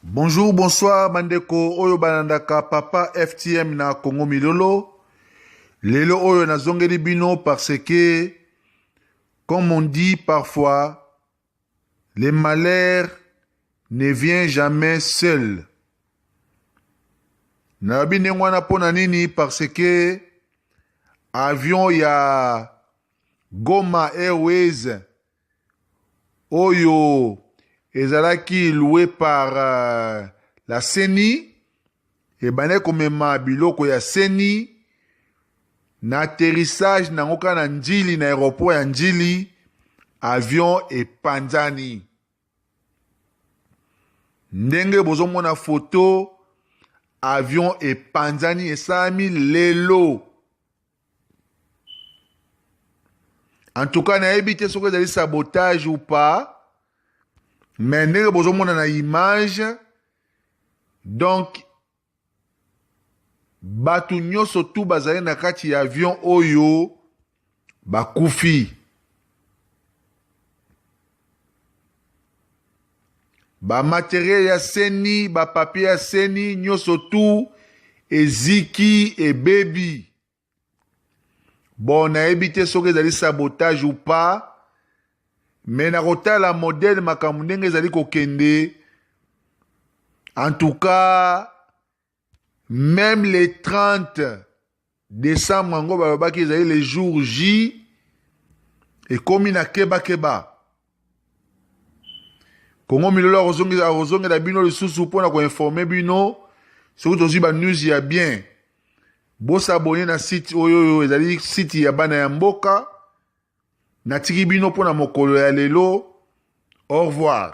Bonjour, bonsoir bandeko oyo balandaka papa FTM na Congo Milolo. Lelo oyo nazongeli bino parce que comme on dit parfois le malheur ne vient jamais seul. Nalobi ndenge wana mpo na nini parce que avion ya Goma Airways oyo ezalaki loue par euh, la CENI ebandaki komema biloko ya CENI na atterrissage nango kaka na Ndjili na aéroport ya Ndjili avion epanzani ndenge bozomona foto avion epanzani esalami lelo en tout cas nayebi te soki ezali sabotage ou pas mais ndenge bozomona na image donc bato nyonso tu bazali na kati ya avion oyo bakufi ba materiel ya seni ba papier ya seni nyonso tu eziki ebebi bon nayebi te soki ezali sabotage ou pas me na kotala modele makambo ndenge ezali kokende en tout cas Meme le 30 decembre yango balobaki ezali le jour J ekomi na keba keba. Kongo milolo akozongela akozongela bino lisusu mpo na koinforme bino soki tozwi ba news ya bien. Bosabone na site oyo oyo ezali site ya bana ya mboka. Natiki bino mpo na mokolo ya lelo. Au revoir.